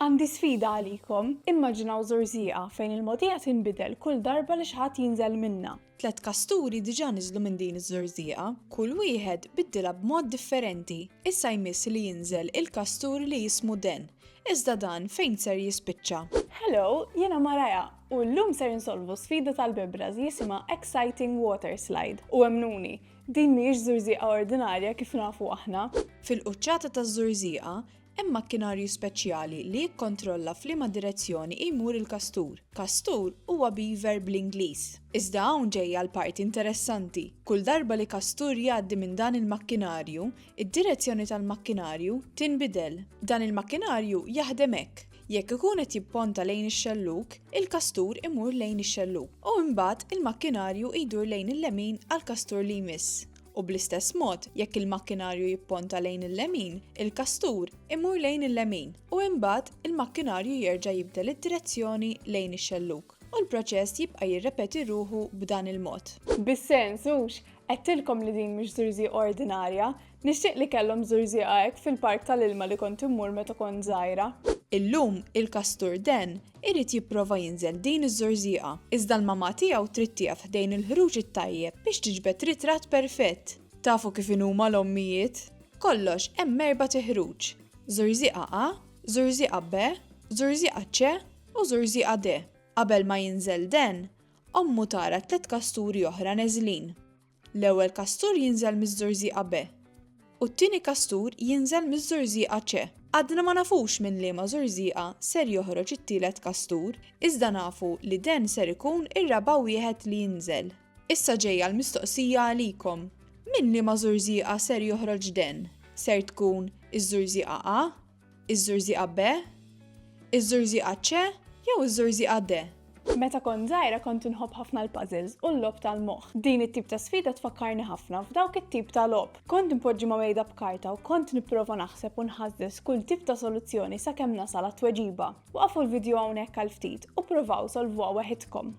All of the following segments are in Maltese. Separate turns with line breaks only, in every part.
Għandi sfida għalikom, immaġinaw żurżieqa fejn il-mogħdija tinbidel kull darba li xi ħadd jinżel minnha. Tliet kasturi
diġà niżlu minn din iż-żurżieqa. Kull wieħed biddilha b'mod differenti. Issa jmiss li jinżel il-kastur li jismu Dan. Iżda Dan fejn ser jispiċċa? Hello, jiena
Mariah, u llum ser insolvu sfida tal-bibra ż jisimha Exciting Water Slide. U emmnuni, din mhijiex żurżieqa ordinarja kif nafu aħna. Fil-quċċata
taż-żurżieqa, Hemm makkinarju speċjali li jikkontrolla f'liema direzzjoni jmur il-kastur. Kastur huwa beaver bl-Ingliż. Iżda hawn ġejja l-parti interessanti. Kull darba li kastur jgħaddi minn dan il-makkinarju, id-direzzjoni tal-makkinarju tinbidel. Dan il-makkinarju jaħdem hekk, jekk ikun qed jipponta lejn ix-xellug, il-kastur imur lejn ix-xellug u imbagħad il-makkinarju jdur lejn il-lemin għall-kastur li jmiss u bl-istess mod jekk il-makkinarju jipponta lejn il-lemin, il-kastur imur lejn il-lemin u imbagħad il-makkinarju jerġa' jibdel id-direzzjoni lejn ix-xellug u l-proċess jibqa' jirrepeti ruħu b'dan il-mod. Bis-sens, hux,
għedtilkom li din mhix żurżieqa ordinarja. Nixtieq li kellhom żurżieqa hekk fil-park tal-ilma li kont immur meta kont żgħira. Illum,
il-kastur den Irid jipprova jinżel din iż-żorżieqa, iżda l-mamà tiegħu trid tieqaf ħdejn il-ħruġ it-tajjeb biex tiġbed ritratt perfett. Tafu kif inhuma l-ommijiet? Kollox hemm erbat iħruġ, żorżieqa A, żorżieqa B, żorżieqa C u żorżieqa D. Qabel ma jinżel Dan, ommu tara tliet kasturi oħra neżlin. L-ewwel kastur jinżel miż-żurżieqa B u t-tieni kastur jinżel miż-żurżieqa C. Għadna ma nafux minn liema żurżieqa ser joħroġ it-tielet kastur, iżda nafu li den ser ikun ir-raba' wieħed li jinżel. Issa ġejja l-mistoqsija għalikom, minn liema żurżieqa ser joħroġ den? Ser tkun iż-żurżieqa A? Iż-żurżieqa B? Iż-żurżieqa C jew iż-żurżieqa D? Meta kont żgħira
kont inħobb ħafna l-puzzles u l-logħob tal-moħħ. Din it-tip ta' sfida tfakkarni ħafna f'dawk it-tip ta' logħob. Kont inpoġġi ma' mejda b'karta u kont nipprova naħseb u nħażżeż kull tip ta' soluzzjoni sakemm nasal għat-tweġiba. Waqfu l-vidjo hawnhekk għal ftit u pprovaw solvuha waħidkom.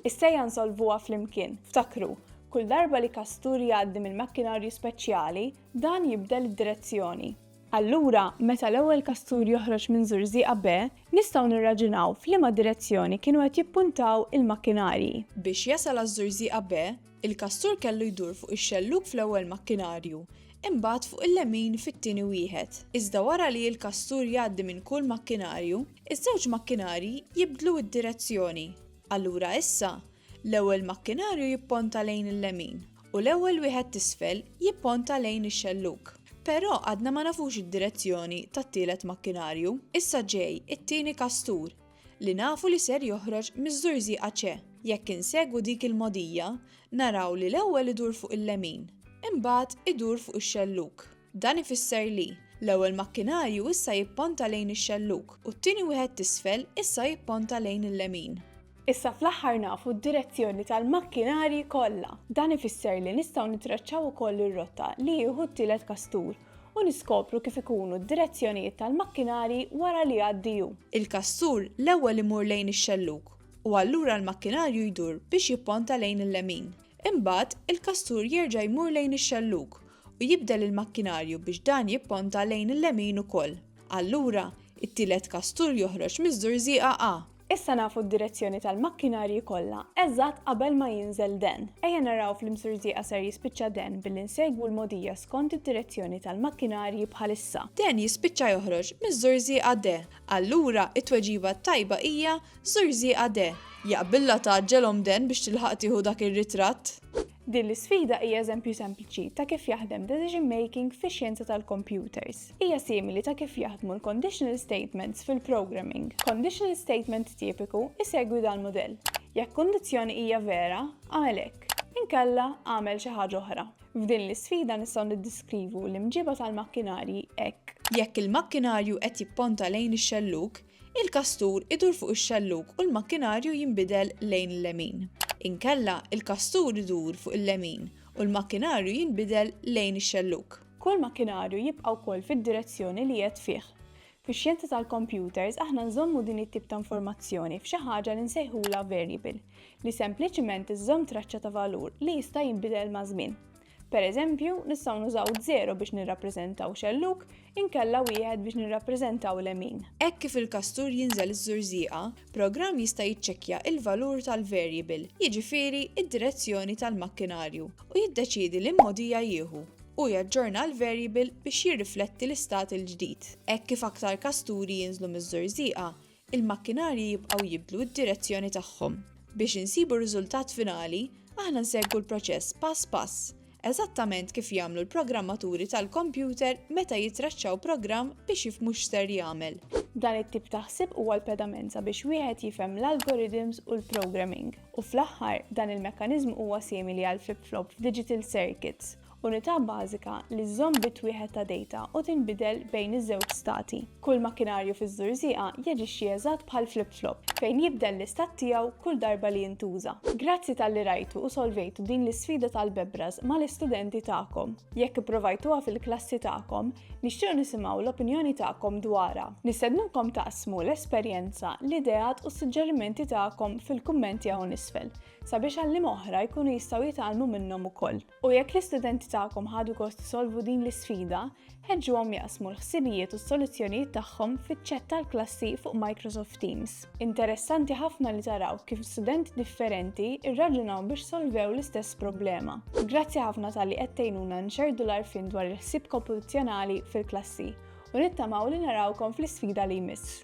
Is-sejja nsolvuha flimkien. Ftakru, kull darba li kastur jgħaddi mill-makkinarju speċjali, dan jibdel id-direzzjoni. Allura, meta l-ewwel kastur joħroġ minn żurżieqa B, nistgħu nirraġunaw f'liema direzzjoni kienu qed jippuntaw il-makkinarji. Biex jasal
għaż-żurżieqa B, Il-kastur kellu jdur fuq ix-xellug fl-ewwel makkinarju, imbagħad fuq il-lemin fit-tieni wieħed. Iżda wara li l-kastur jgħaddi minn kull makkinarju, iż-żewġ makkinarji jibdlu d-direzzjoni. Allura issa, l-ewwel makkinarju jipponta lejn il-lemin u l-ewwel wieħed t'isfel jipponta lejn ix-xellug. Però għadna ma nafux id-direzzjoni tat-tielet makkinarju. Issa ġej it-tieni kastur. li nafu li ser joħroġ miż-żurżieqa ċe jekk insegwu dik il-mogħdija naraw li l-ewwel idur fuq il-lemin, imbagħad idur fuq ix-xellug. Dan ifisser li, l-ewwel makkinarju issa jipponta lejn ix-xellug u t-tieni wieħed t'isfel issa jipponta lejn il-lemin. Issa fl-aħħar
nafu d-direzzjoni tal-makkinarji kollha. Dan ifisser li nistgħu nittraċċaw ukoll ir-rotta li jieħu t-tielet kastur. u niskopru kif ikunu d-direzzjonijiet tal-makkinarji wara li jgħaddi hu. Il-kastur
l-ewwel imur lejn ix-xellug u allura l-makkinarju jdur biex jipponta lejn il-lemin. Imbagħad, il-kastur jerġa' jmur lejn ix-xellug u jibdel il-makkinarju biex dan jipponta lejn il-lemin ukoll. Allura, it-tielet kastur joħroġ miż-żurżieqa A. Issa nafu
d-direzzjoni tal-makkinarji kollha eżatt qabel ma jinżel Dan. Ejja naraw fl-imsurzieqa ser jispiċċa Dan billi nsegwu l-mogħdija skont id-direzzjoni tal-makkinarji bħalissa. Dan jispiċċa
joħroġ miż-żurżieqa De. Allura, it-tweġiba t-tajba hija żurżieqa De. Jaqbillha tgħaġġelhom Dan biex tilħaq tieħu dak ir-ritratt? Din l-isfida
hija eżempju sempliċi ta' kif jaħdem decision making fi xjenza tal-computers. Hija simili ta' kif jaħdmu l-conditional statements fil-programming. Conditional statement tipiku isegwi dan model. Jekk kundizzjoni hija vera, għamel hekk. Inkella għamel xi ħaġa oħra. F'din l-isfida nistgħu niddiskrivu l-imġiba tal-makkinarji hekk. Jekk il-makkinarju
qed jipponta lejn ix-xellug, Il-kastur idur fuq ix-xellug u l-makkinarju jinbidel lejn il-lemin. Inkella, il-kastur idur fuq il-lemin u l-makkinarju jinbidel lejn ix-xellug. Kull makkinarju
jibqa' wkoll fid-direzzjoni li qiegħed fih. Fix-xjenza tal-kompjuters aħna nżommu din it-tip ta' informazzjoni f'xi ħaġa li nsejħulha varjable, li sempliċement iżżomm traċċa ta' valur li jista' jinbidel maż-żmien. Per eżempju, nistgħu nużaw żero biex nirrappreżentaw xellug, inkella wieħed biex nirrappreżentaw lemin. Hekk kif il-kastur
jinżel iż-żurżieqa, programm jista' jiċċekkja l-valur tal-varjable, jiġifieri d-direzzjoni tal-makkinarju, u jiddeċiedi li mmodija jieħu, u jaġġorna l-varjable biex jirrifletti l-istat il-ġdid. Hekk kif aktar kasturi jinżlu miż-żurżieqa, Il-makkinarji jibqgħu jibdlu d-direzzjoni tagħhom. Biex insibu r-riżultat finali, aħna nsegwu l-proċess pass pass, eżattament kif jagħmlu l-programmaturi tal-kompjuter meta jitraċċaw programm biex jifhmu x'ser jagħmel. Dan it-tip ta'
ħsieb huwa l-pedamenza biex wieħed jifhem l-algorithms u l-programming. U fl-aħħar, dan il-mekkaniżmu huwa simili għall-flip-flop f'digital circuits, Unità bażika li żżomm bit wieħed ta' dejta u tinbidel bejn iż-żewġ stati. Kull makkinarju fiż-żurżieqa jaġixxi eżatt bħal flip-flop, fejn jibdel l-istat tiegħu kull darba li jintuża. Grazzi talli rajtu u solvejtu din l-isfida tal-bebras mal-istudenti tagħkom. Jekk ipprovajtuha fil-klassi tagħkom, nixtiequ nisimgħu l-opinjoni tagħkom dwarha. Nistednukom taqsmu l-esperjenza, l-ideat u s-suġġerimenti tagħkom fil-kummenti hawn isfel, sabiex għalliema oħra jkunu jistgħu jitgħallmu minnhom ukoll. U jekk l-istudenti tagħkom ħadu gost isolvu din l-isfida, ħeġġuhom jaqsmu l-ħsibijiet u s-soluzzjonijiet tagħhom fiċ-ċett tal-klassi fuq Microsoft Teams. Interessanti ħafna li taraw kif studenti differenti rraġunaw biex solvew l-istess problema. Grazzi ħafna tal-li qed tgħinuna nxerdu l-għarfien dwar il-ħsieb kompetizzjonali fil-klassi u nittamaw li narawkom fl-isfida li jmiss.